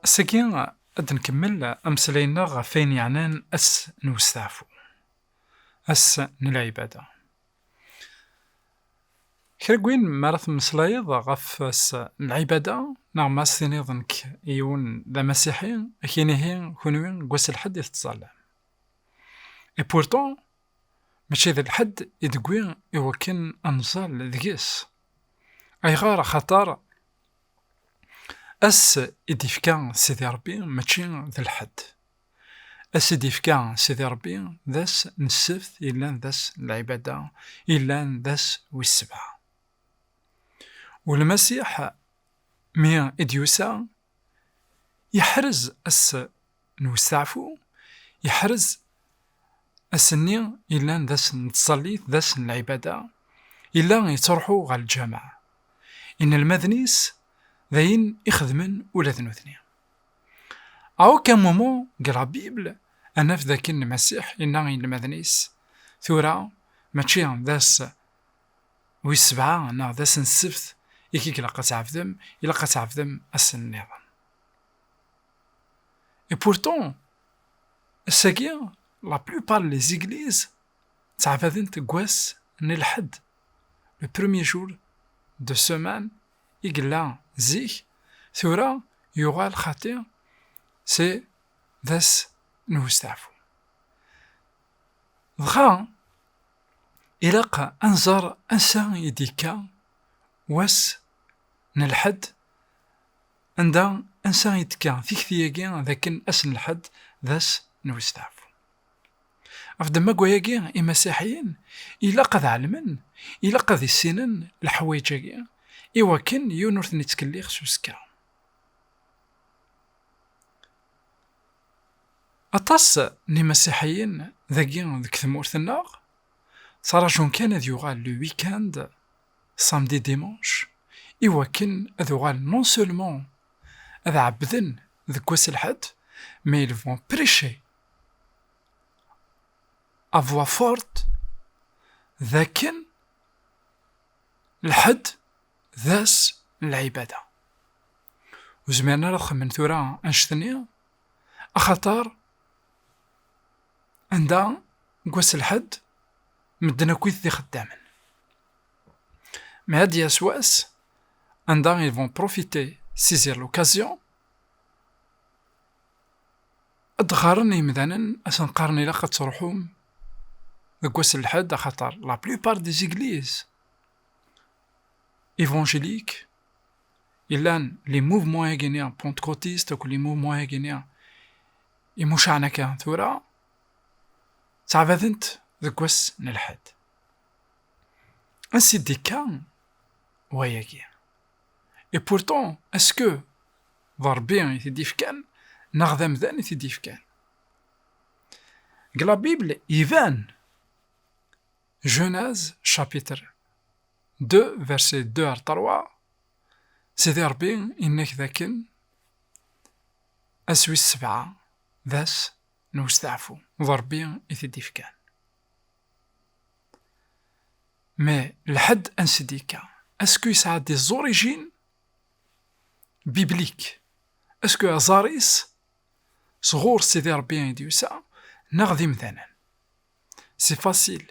Ass-agi ad nkemmel ameslay-nneɣ ɣef ayen yeɛnan ass n westaɛfu, ass n lɛibada. Kra n win mi ara temmeslayeḍ ɣef ass n lɛibada, neɣ ma as-tiniḍ nekk yiwen d amasiḥi, ad ak-inihi kunwi deg wass n lḥedd i tettẓallam. Et pourtant, mačči d lḥedd i d-tewwi i wakken ad nẓall deg-s. Ayɣer? Axaṭer ass i d-ifka Sidi Ṛebbi mačči d lḥedd. Ass i d-ifka Sidi Ṛebbi d ass n ssebt yellan d ass n lɛibada, yellan d ass wis sebɛa. U Lmasiḥ mi i d-yusa, yeḥrez ass n westaɛfu, yeḥrez ass-nni yellan d ass n tẓallit, d ass n lɛibada, yella yettruḥu ɣer lǧameɛ. Inelmaden-is d ayen i xedmen ula d nutni. A aucun moment deg la Bible ad naf d akken Lmasiḥ yenna i yinelmaden-is, Tura mačči d ass wis sebɛa neɣ d ass n ssebt i k-ilaq ad tɛebdem, ilaq ad tɛebdem ass-nniḍen. Et pourtant, ass-agi, la plupart des églises ttɛabaden deg wass n lḥedd, le premier jour de semaine i yella zik, tura yuɣal xaṭi si d ass n westeɛfu. Dɣa, ilaq ad nẓer ansa i d-yekka wass n lḥedd Anda, ansa i d-tekka tikti-agi d akken ass n lḥedd d ass n westeɛfu? Ɣef ddemma n wayagi, Imasiḥiyen ilaq ad ɛelmen, ilaq ad issinen leḥwayeǧ-agi i wakken yiwen ur ten-ittkellix s usekka. Aṭas n Imasiḥiyen dagi deg tmurt-nneɣ, ttraǧun kan ad yuɣal le week-end samedi dimanche, iwakken ad uɣalen non seulement ad ɛebbden deg wass n lḥedd, mais ils vont prêcher à voix forte d akken lḥedd d ass n lɛibada. Ur zmiren ara ad xemmen tura annect-nni axaṭer, anda deg wass lḥedd medden akkit d ixeddamen. Mais ad d-yas wass anda ils vont profiter, saisir l'occasion, ad d-ɣɣaren yimdanen ad sen-qqaren ilaq ad truḥum deg wass lḥedd axaṭer la plupart des églises évangéliques yellan les mouvements-agi-nni pentecôtistes akked les mouvements-agi-nni imucaɛen akka tura ttɛabadent deg wass n lḥedd ansi d-ikka wayagi et pourtant est-ce que d Rebbi i t-id-ifkan neɣ d amdan i t-id-ifkan deg la Bible iban Genèse chapitre 2 verset 2 ar 3 Sidi Ṛebbi inna-k dakken ass wis sebɛa d ass n westeɛfu, d Ṛebbi i t-id-ifkan. Ma lḥedd ansi d-yekka, asku yesɛa des origines bibliques, asku aẓar-is sɣur Sidi Ṛebbi i d-yusa neɣ d imdanen. C'est facile.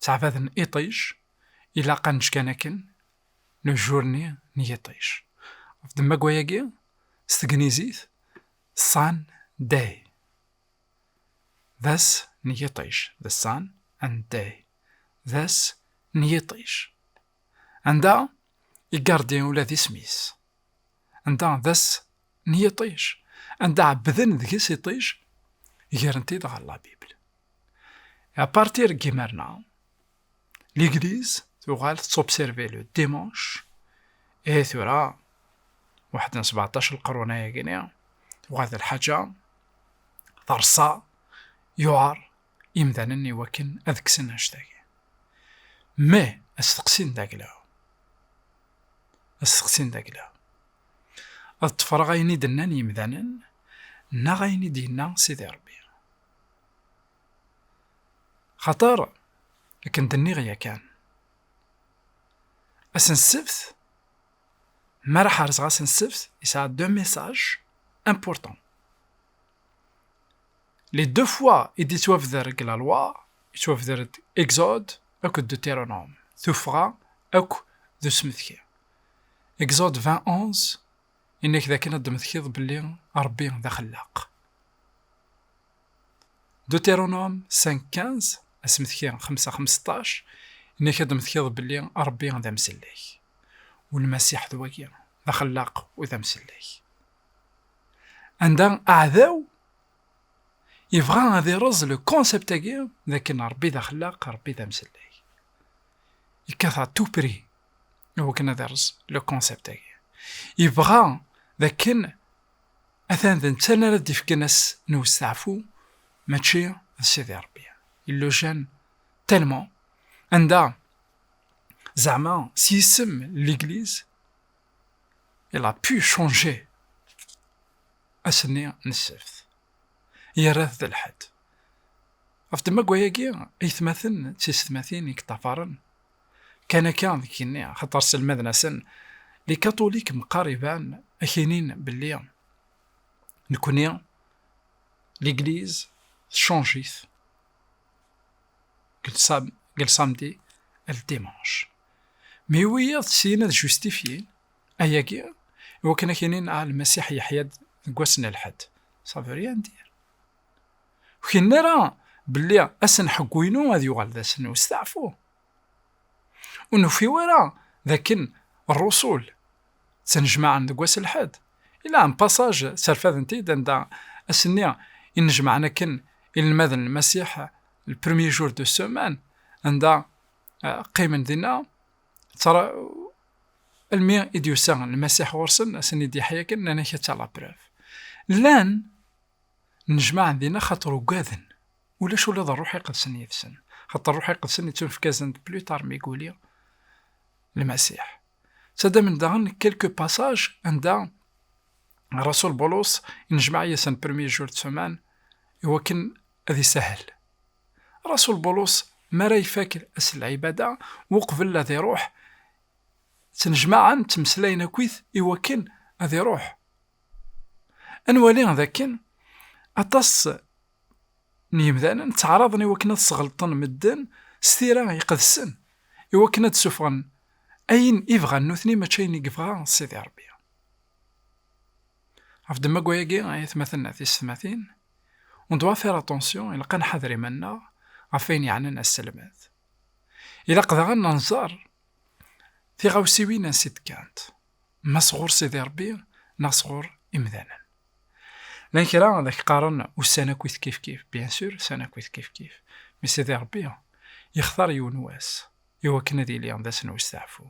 ttɛabaden iṭij, ilaq ad neǧǧ kan akken, le jour-nni n yiṭij. Ɣef ddemma-agi, s tegnizit, sun day, d ass n yiṭij, the sun and day, d ass n yiṭij. Anda igardi ula d isem-is. Anda d ass n yiṭij. Anda ɛebbden deg-s iṭij, gren-t-id ɣer la Bible. À partir n yimerna, l'église tuɣal tettobserver le dimanche et tura waḥed n sebeɛṭac lqerun ayagini tuɣal d lḥaǧa terṣa yuɛer imdanen i wakken ad kksen annect-agi. Ma asteqsi n dagla, asteqsi n dagla, ad ṭṭefreɣ ayen i d-nnan yimdanen neɣ ayen i d-yenna Sidi Rebbi. Xaṭer, akken d-nniɣ yakan, ass n ssebt, mi ara ḥerzeɣ ass n ssebt, yesɛa deux messages importants. Les deux fois i d-yettwabder deg la loi, yettwabder-d Exode akked Deutéronome, tuffɣa akk d usmetki. Exode 20, 11, yenna-k d akken ad d-tmetkiḍ belli Rebbi d axellaq. Deutéronome 5, 15, asmetki 5, 15, yenna-k ad d-tmetkiḍ belli Rebbi d amsellek. U Lmasiḥ d wagi, d axellaq u d amsellek. Anda aɛdaw Yebɣa ad ireẓ le concept-agi d akken Rebbi d axellaq, Rebbi d amsellek. Yekkat à tout prix i wakken ad ireẓ le concept-agi. Yebɣa d akken atan d netta ara d-ifken ass n westeɛfu mačči d Sidi Rebbi. Il le gêne tellement anda zeɛma s yisem l'église il a pu changer Ass-nni n ssebt, yerra-t d lḥedd. Ɣef ddemma n wayagi, aytmaten d teysetmatin i yeṭṭafaren, kkan akka deg yigenni, axaṭer sselmaden-asen likatulik meqqar iban ak-inin belli nekkni ligliz techanj-it seg lsamdi ar ldimanc. Mi wiyiḍ syin ad justifyin, Ayagi, iwakken ak inin ah Lmasiḥ yeḥya-d deg wass n lḥedd, sabiri ad ndir. Ur k-inin ara belli ass n ḥeggu-inu ad yuɣal d ass n usteɛfu. Ur nufiw ara d akken rrusul ttnejmaɛen deg wass n lḥedd, ila un passaj sserfaden-t-id anda ass-nni i nnejmaɛen akken inelmaden n Lmasiḥ, le premier jour de semaine, anda qqimen dinna, Almi i d-yusa Lmasiḥ ɣur-sen, a sen-id-yaḥ yakan, nnan-ak a tta laprève. Llan nnejmaɛen dinna xaṭer ugaden, ulac ula d Rruḥ Iqedsen yid-sen, xaṭer Rruḥ Iqedsen ittunefkazen-d plus tard mi guli Lmasiḥ. Ttaddamen-d daɣen quelques passages anda Rrasul Bulus inejmaɛ yid-sen premier jour de semaine iwakken ad isahel. Rasul Bulus mi ara ifak s lɛibada uqbel ad iruḥ, ttnejmaɛen ttmeslayen akkit i wakken ad iruḥ. Ad nwali d akken aṭas n yemdanen ttaɛraḍen i wakken ad sɣelṭen medden s tira iqedsen, i wakken ad d-sufɣen ayen i bɣan nutni mačči ayen i yebɣa Sidi Rebbi. Ɣef ddemma n wayagi ay atmaten d tysetmatin, On doit faire attention, il qan hadri manna, afin yanen as-salmat. Il aqdara nanzar, tirawsiwin an sitkant, ma sɣur sidi Rebbi, neɣ sɣur imdanen. Lan kra ad ak-qqaren ussan akk it kif kif, bien sûr, ussan akk it kif kif. Mi sidi Rebbi, yextar yiwen wass, iwakken ad yili d ass n usteɛfu.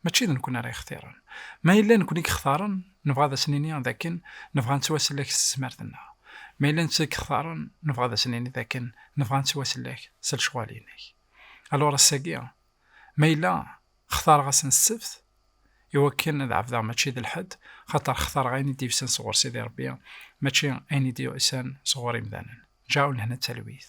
Mačči d nekkni ara yextiren. Ma yella nekkni i yextaren, nebɣa ad as-nini d akken nebɣa ad nettwasellek s tesmert-nneɣ. Ma yella netta i yextaren, nebɣa ad as-nini d akken nebɣa ad nettwasellek s lecɣal-inek. Alur ass-agi, ma yella xtareɣ-asen ssebt i wakken ad ɛebdeɣ mačči d lḥed, xaṭer xtareɣ ayen i d-yusan sɣur Sidi Rebbi, mačči ayen i d-yusan sɣur imdanen. Ǧaɛu lehna d talwit.